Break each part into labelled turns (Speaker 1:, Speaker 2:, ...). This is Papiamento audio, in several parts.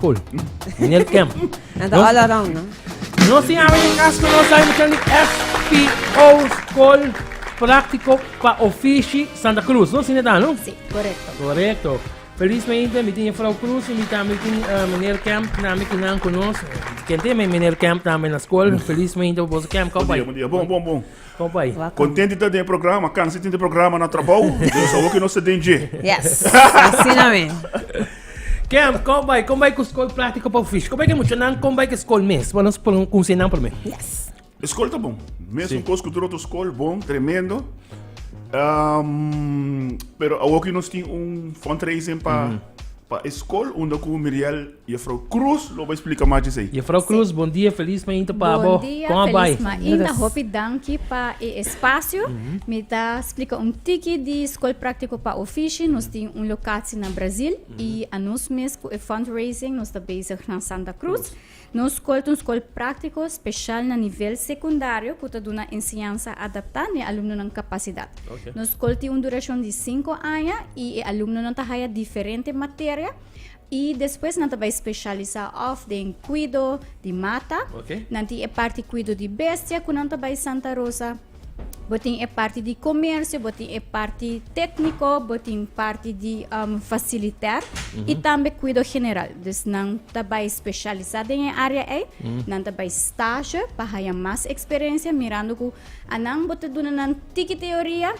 Speaker 1: Cool. Meneer Kemp. And the all
Speaker 2: around, no? No sin awe
Speaker 1: in Casco no sai muchan di FPO School Práctico pa Ofici Santa Cruz. No sin edad, no? Sí, correcto.
Speaker 3: Correcto.
Speaker 1: Felizmente, mi tiene Frau Cruz y mi también tiene uh, eh, meneer Kemp, también que no conoce. Gente, meneer Kemp también en la escuela. Felizmente, vos Kemp, cowboy. Bom, bom, bom.
Speaker 4: Stop ahi.
Speaker 1: Contenti ta den e
Speaker 4: programa, cansi tin di programa na trabou, dus awor ki nos ta den dje. Yes,
Speaker 2: asina mi.
Speaker 1: Camp, con bai, con bai cu scol pratico pa fish. Con bai cu mucho nan con bai cu scol mes. Pa nos pon con nan primer. Yes. Scol
Speaker 2: ta bon.
Speaker 4: Mes un cos cu droto scol bon, tremendo. Um, pero awor ki nos tin un fundraising pa, mm -hmm. pa scol, unda cu Miriel Jefrouw Croes lo bai splika mas dj'esei. Jefrouw Croes, bon dia,
Speaker 1: felis mainta pa bo. Kon a bai? Bon dia, felis
Speaker 3: mainta.
Speaker 1: Hopi
Speaker 3: danki pa e espasio. Mi ta splika un tiki di Skol Praktiko pa Ofishi. Nos tin un lokatsi na Brazil i anos mes ku e fundraising nos ta bezig na Santa Cruz. Nos skol ta un skol praktiko speshal na nivel sekundario ku ta duna enseñansa adaptá n'e alumnonan kapasidat. Nos skol tin
Speaker 1: un durashon
Speaker 3: di sinku aña i e alumnonan ta haya diferente materia. I despues nan ta bai speshalisá òf den kuido di mata, Ok. nan tin e parti
Speaker 1: kuido
Speaker 3: di bestia ku nan ta bai Santa Rosa, bo tin e parti di komersio, bo tin e parti tékniko, bo tin parti di am fasilitèr i tambe kuido general. Dus nan ta bai speshalisá den e área ei, nan ta bai stashe pa haña mas eksperensia mirando ku a nan bo ta duna nan tiki teoria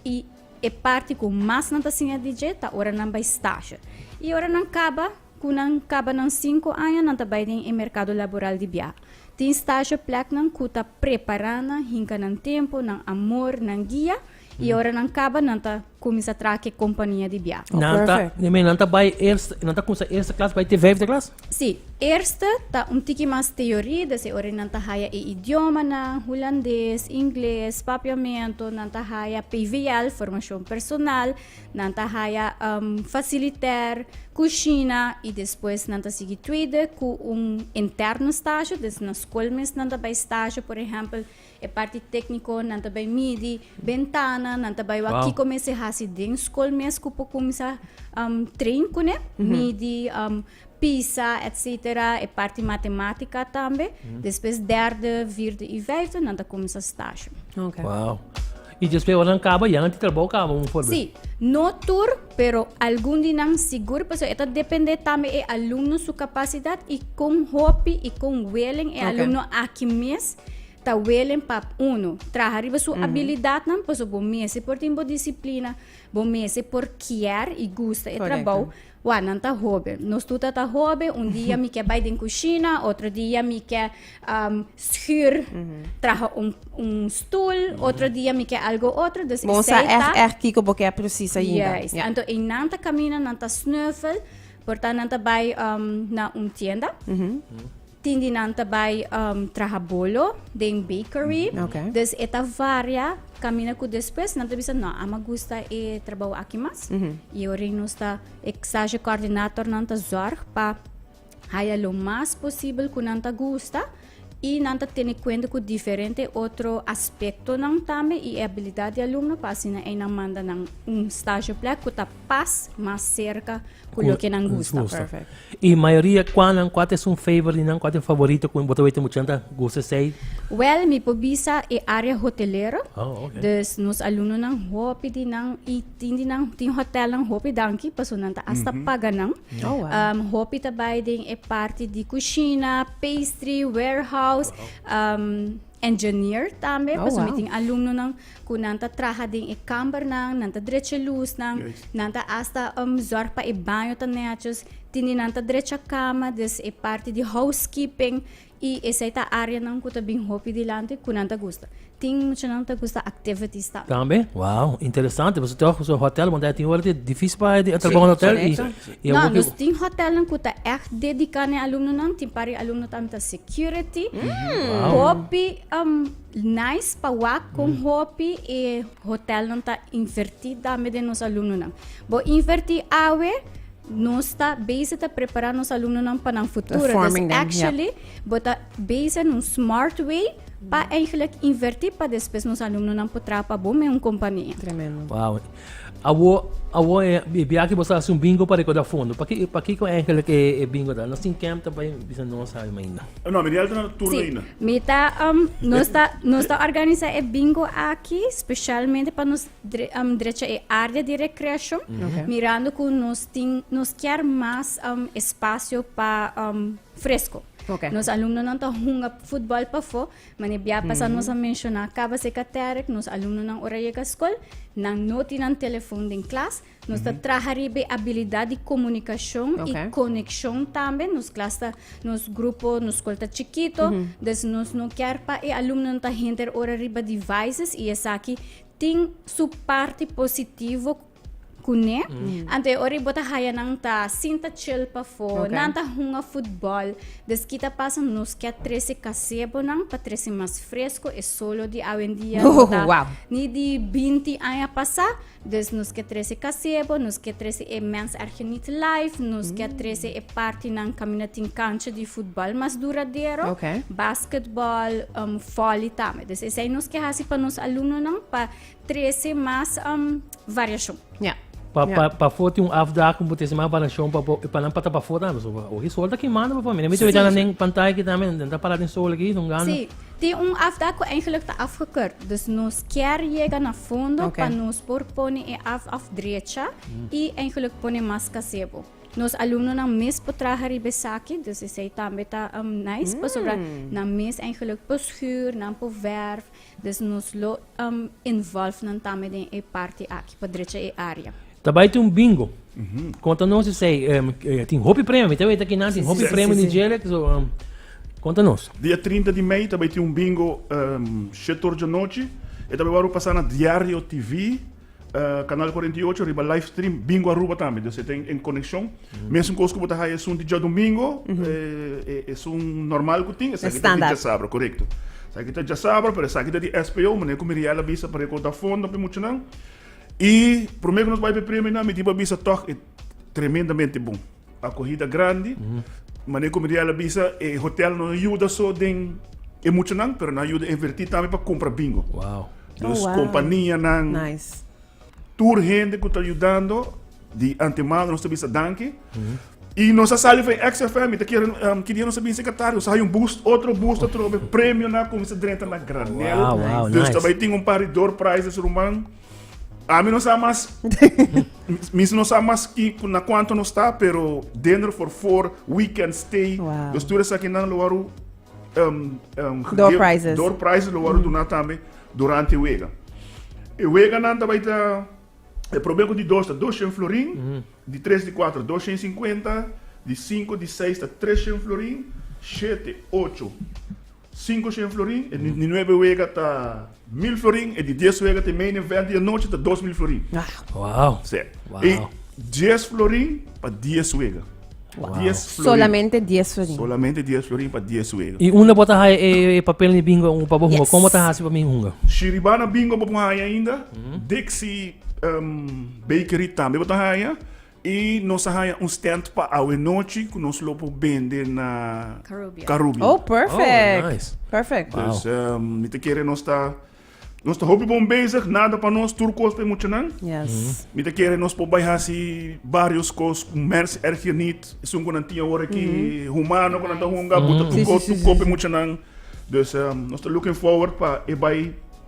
Speaker 3: i E parti ku mas nan ta siña di dje ta ora nan bai stashe. I ora nan kaba, ku nan kaba nan sinku aña, nan ta bai den e merkado laboral di biaha. Tin stashe plèknan ku ta prepará nan hinka nan tempu, nan amor, nan guia, i ora nan kaba nan ta kuminsá traha ku e kompania di biaha. Nan ta, nan
Speaker 2: ta bai
Speaker 1: eerste, nan ta kuminsá eerste klas bai te vijfde klas? Si, eerste
Speaker 3: ta un tiki mas teorie, dese ora nan ta haya e idiomanan, Hulandes, Ingles, papiamento, nan ta haya PVL, formacion personal, nan ta haya um, faciliter, cucina, y despues nan ta sigui tweede cu un interno stage, des na school mes nan ta bay stage, por ehempel, E parti tékniko nan ta bai midi bentana, nan ta bai wak kiko mester hasi den skol mes ku por kuminsá trein kuné, midi, pisa, etsetera, e parti matematika tambe. Despues dèrdè, vierde i vijfde nan ta kuminsá stashon.
Speaker 1: I dje spewanan kaba i anti trabou kaba, un forbes? Sí, no
Speaker 3: tur, pero algun di nan sigur, pasobra e ta dependé tambe e alumno su kapasidat i kon hopi i kon welen e alumno aki mes ta welen pa uno traha riba su abilidatnan, pasobra bo mester por tin bo disiplina, bo mester por kier i gusta e trabou. Wak, nan ta hoben. Nos tur ta ta hoben. Un dia mi ke bai den kushina, otro dia mi ke um, schuur traha un, un stoel, otro dia mi ke algo otro. Dus Bo sa esei ta... echt, echt
Speaker 2: kiko bo ke precies ainda. Juist. Ja. Anto ei nan ta
Speaker 3: camina, nan ta snuffel, por ta nan ta bai um, na un tienda. Tin di nan ta bai um, traha bolo den bakery. Mm, okay. Dus e ta
Speaker 2: varia
Speaker 3: camina cu despues nan ta bisa no, ama gusta e trabajo aki mas. Mm -hmm. Y ori nos ta exage coordinator nan ta zorg pa haya lo mas posible cu nan ta gusta y nan ta tene cuenta cu diferente otro aspecto nan tambe y e habilidad di alumno pa asina e nan manda nan un stage plek cu ta pas mas serka ku loke nan gusta. I
Speaker 2: mayoria
Speaker 1: kua nan kua ta esun favor di nan kua ta e favorito ku bo ta wete muchanan ta gusta esei? Wel mi por
Speaker 3: bisa e area hotelero dus
Speaker 1: nos alunonan
Speaker 3: hopi di nan i tin di nan tin hotelnan hopi danki paso nan ta asta paga nan hopi
Speaker 2: ta bai den
Speaker 3: e parti di kushina, pastry, warehouse engineer tambe paso mi tin alumnonan. cu nan ta traha den e kambernan, nan ta drecha e lusnan, nan ta hasta um, zorg pa e baño ta netjes, tin di nan ta drecha cama, dus e parti di housekeeping, y esey ta areanan cu ta bin hopi dilanti cu nan ta gusta. Tin muchanan ta gusta activities tambe. Tambe? Wow,
Speaker 1: interesante. Boso ta so hotel, want e tin ora di dificil pa e trabao na hotel. y, y No, hopi- nos tin
Speaker 3: hotelnan cu ta echt dedica na e alumnonan. Tin par e alumno tambe ta security, hopi um, Nice pa wak con hopi e hotel nan ta inverti tambe den nos alumnonan. Bo inverti awe, nos ta bezig ta prepara nos alumnonan pa nan futuro.
Speaker 2: Dus Forming
Speaker 3: them, actually, bo ta bezig
Speaker 2: en un
Speaker 3: smart way pa eigenlijk inverti pa despues nos alumnonan por traha pa bo met un compania. Tremendo. Wauw.
Speaker 1: Awor, awor e e bia aki bo sa hasi un bingo pa recorda fondo. Paki pakiko eigenlijk e e bingo ta? Nos tin camp ta bai bisa no sabi mai ainda. No, mi di alto na no turno
Speaker 4: Sí, ainda. mi ta,
Speaker 3: um,
Speaker 4: nos ta,
Speaker 3: nos ta organisa e bingo aki specialmente pa nos dre- um, drecha e área di recreacion, Oké. mirando cu nos tin, nos kier mas, um, espacio pa, um, fresco. Oké. Nos
Speaker 2: alumnonan ta
Speaker 3: hunga futbol pafó, Mane bia pasa nos a menciona caba se caterek nos alumnonan ora yega school nan no tin nan telefoon den klas. Nos ta traha riba e habilidad di comunicacion y Oké. conexion tambe. Nos klas ta, nos grupo, nos school ta chikito. Dus nos no kier pa e alumnonan ta henter ora riba devices y esaki tin su parti positivo Kuné, ante ora i bo ta haya nan ta sinta chil pafó, okay. nan ta hunga futbol, des ki ta pasa nos kia trese kasebonan pa trese mas fresko e solo di awendia no, no ta wow. ni di 20 aña pasa, des nos kia trese kasebo, nos kia trese e mens erge niet life, nos mm. kia trese e parti nan kamina tin kancha di futbol mas duradero, okay. basketball, um, volley tame. Des esai nos kia hasi pa nos alumno nan pa Trece mas um, variacion. Yeah. Pa, pa,
Speaker 1: pafó tin un afdaak un potese más variacion pa, pa, pa nan pata pafó tambe. So, pa, ohi sol ta kimando pa familia. Mi te weta nan pantaya ki tambe, nan ta para den sol aquí, don gano. Sí, tin un afdaak
Speaker 3: ku eigenlijk ta afgekeur. Dus nos kier yega na fondo okay. pa nos por pone e af afdrecha mm. i eigenlijk pone mas kasebo. Nos alumno nan mes por traha ribe saki, dus esei tambe ta um, nice, mm. pasobra nan mes eigenlijk por schuur, nan por verf, Des nos lo involve nan tambe den e parti aki pa drecha e area. Ta bai tin un bingo.
Speaker 1: Conta nos esey. Tin hopi premio, mi ta weten kinan tin hopi premio den djele. Conta nos. Dia trinta di
Speaker 4: mei ta bai tin un bingo shet or djanochi. E ta bai wak lo pasa na Diario TV. Kanal kuarenta i ocho riba live stream Bingo Aruba tambe. Dus e ten en konekshon. Mesunkoos ku bo ta haya esun di djòdomingo, e esun nòrmal ku tin, esaki ta di djasabra, korekto. Esaki ta djasabra, pero esaki ta di SPO, manera ku Miriel a bisa pa rekountá fondo pi muchanan. I promé ku nos bai pa e premionan, mi tin pa bisa tòg e tremendamente bon. Akohida grandi. Mane ku Miriel a bisa, e hotel no yuda so den e muchanan, pero nan a yuda invertí tambe pa kumpra bingo. Wow. Dus kompanianan, tur hende ku ta yudando, di antemano nos ta bisa danki. I nos a sali fen XFM, mi ta kere ki dia nos a bin sekatario, nos a haña un bus, otro bus ta trobe, premionan a kuminsá drenta na granel. Wow, wow, nice. Dus ta bai tin un par di door prizes ruman. Ami no sa mas. Mis no sa mas ki na cuanto no sta, pero dender for for weekend stay. Wow. Dus turen saki nan lo waru um, um, door give, prizes. Door prizes lo waru mm. duna tambe durante wega. E wega nan ta baita e problema di dos ta 200 florin, mm. Mm-hmm. di 3 di 4 250, di 5 di 6 ta 300 florin, 7 8 Sinku shen florin e di nuebe wega ta mil florin, e di dies wega te mei den venti di nochi ta dos mil florin. Wow. Sí.
Speaker 1: I
Speaker 4: dies florin pa dies wega. Wow. Dies florin.
Speaker 2: Solamente dies florin. Solamente dies florin pa
Speaker 4: dies wega. I unda bo ta haya e,
Speaker 1: e papel ni bingo un pa bo hunga? Yes. Como ta hasi pa mi hunga? Si riba na bingo bo
Speaker 4: por haya ainda, Dixie um, Bakery tambe bo ta haya. Y nos a haya un stand pa awe nochi cu nos lo por bende na Carubia. Oh, perfect.
Speaker 2: Oh, nice. Perfect.
Speaker 1: Dus
Speaker 2: mi ta
Speaker 4: kere nos ta, nos ta hopi bon bezig, nada pa nos, tur cos pa e muchanan. Yes. Mi ta kere
Speaker 2: nos por
Speaker 4: bai haci varios cos cu mers erg yunit, esun cu nan tin awor aki, humano cu nan ta hunga, buta tur cos, tur cos pa e muchanan. Dus nos ta looking forward pa e bai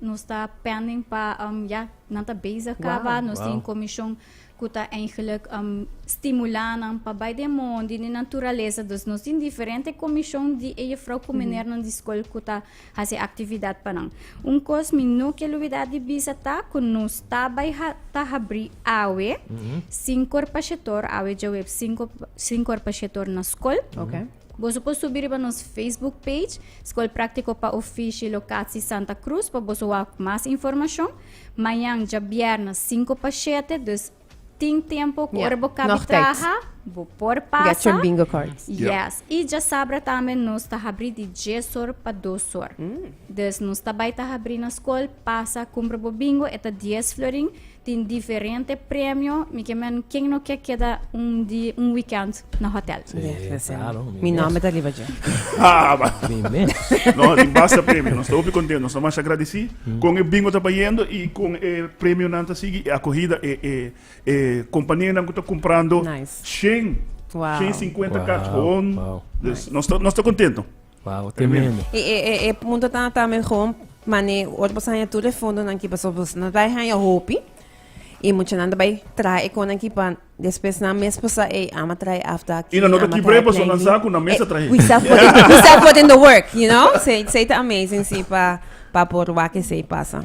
Speaker 3: Nos ta pending pa um, ya nan ta bezig kaba. Wow, Nos wow. tin commission ku ta eigenlijk um, stimula nan pa bai den mon di di naturaleza. Dus nos tin diferente commission di e juffrouw ku meneer nan di school ku ta hasi actividad pa nan. Un kos mi no kel olvida di bisa ta ku nos ta bai ha, ta habri awe sin korpashetor, awe djaweb sin, sin korpashetor na school. Okay. Boso por subi riba nos Facebook page Skol Práktiko pa Ofishi Lokatsi Santa Krus pa boso wak mas informashon. Mañan dja bièrnè sinku pa shete, dus tin tempu ku Ja, ora bo kabi nòg tijds. traha,
Speaker 2: bo por
Speaker 3: Get pasa. your bingo
Speaker 2: cards.
Speaker 3: Ja.
Speaker 2: Yes. I dja
Speaker 3: sabra tambe nos ta habri di djes or pa dos or. Dus nos ta bai ta habri na skol, pasa, kumpra bo bingo, e ta dies florin, Tin diferente premio, mi ke men ken no ke keda un di un weekend na hotel. Sí, claro,
Speaker 1: mi nomber ta riba
Speaker 2: dje. Mi
Speaker 4: mes. No,
Speaker 1: tin basta
Speaker 4: premio, nos ta hopi content, nos ta masha agradeci con e bingo ta bayendo y con e premionan ta sigui e acohida e e e companianan cu ta comprando nice. shen,
Speaker 2: wow.
Speaker 4: shen cincuenta
Speaker 2: cach hon,
Speaker 1: wow.
Speaker 4: nice. nos
Speaker 1: ta nos ta
Speaker 4: contento. Wauw, tremendo.
Speaker 1: E, e, e, e punto
Speaker 2: tan ata me gewoon mane ot bos haya tur e fondo nan ki paso bos na bai haya hopi y mucha nan bai trae e konan ki pa despues nan mes posa e ama trae after aquí Y nan no ta ama kibre trae paso nan
Speaker 4: planting. sa ku nan mesa trae. we start put in, we start
Speaker 2: put in the work you know sei sei ta amazing si pa pa por wak esei pasa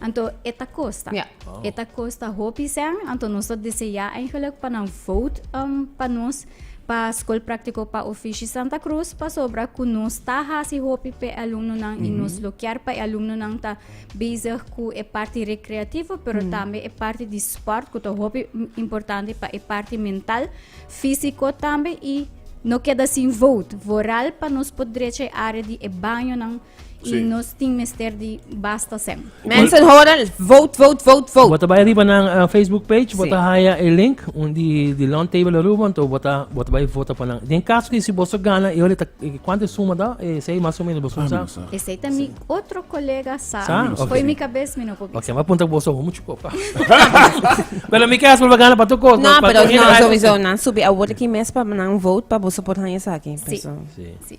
Speaker 3: Anto e ta kosta. Ja. E ta kosta hopi sèn, anto nos ta deseá eigenlik pa nan vot um, pa nos pa Skol Práktiko pa Ofishi Santa Krus pasobra ku nos ta hasi hopi pa e alumnonan i nos lo kier pa e alumnonan ta bezig ku e parti rekreativo pero tambe e parti di spòrt ku ta hopi importante pa e parti mental, físiko tambe i no keda sin vot vooral pa nos por drecha e área di e bañonan y nos tin mester
Speaker 4: di
Speaker 3: basta sem. Mensen hoor al,
Speaker 2: vote, vote, vote, vote. Bota bay
Speaker 1: riba nan uh, Facebook page, bota sí. haya el link un di, di long table aruba, entonces bota, bota bay vota pa nan. Den caso que si boso gana, yo le ta, cuánto suma da, eh, sei más o menos boso sa. Ese ta mi
Speaker 3: otro colega sa. Sa? Okay. Foi mi
Speaker 1: cabeza,
Speaker 3: mi no
Speaker 1: popi.
Speaker 3: Okay, ma punta boso homo
Speaker 1: chuko pa. Pero mi caso pa gana pa tu cosa. No, pero no, sowieso,
Speaker 2: nan subi a word ki mes pa nan vote pa boso por haya sa aquí. Sí. Sí. sí.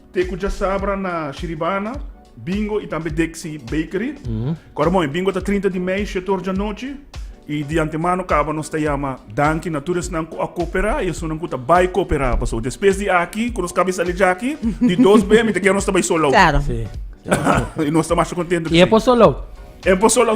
Speaker 4: Te cu dja sabra na Shiribana, Bingo y tambe Dexy Bakery. Cu ora moe, Bingo ta trinta di mei, shete or djanochi. Y di antemano caba nos ta yama danki na tur esnan cu a coopera y esunnan cu ta bay coopera. Paso despues di aki, cu nos caba y sali djaki, di dos bee mi ta kere nos ta bay Solou. Claro.
Speaker 1: Y nos
Speaker 4: ta masha contento. Y e por Solou?
Speaker 1: E por Solou.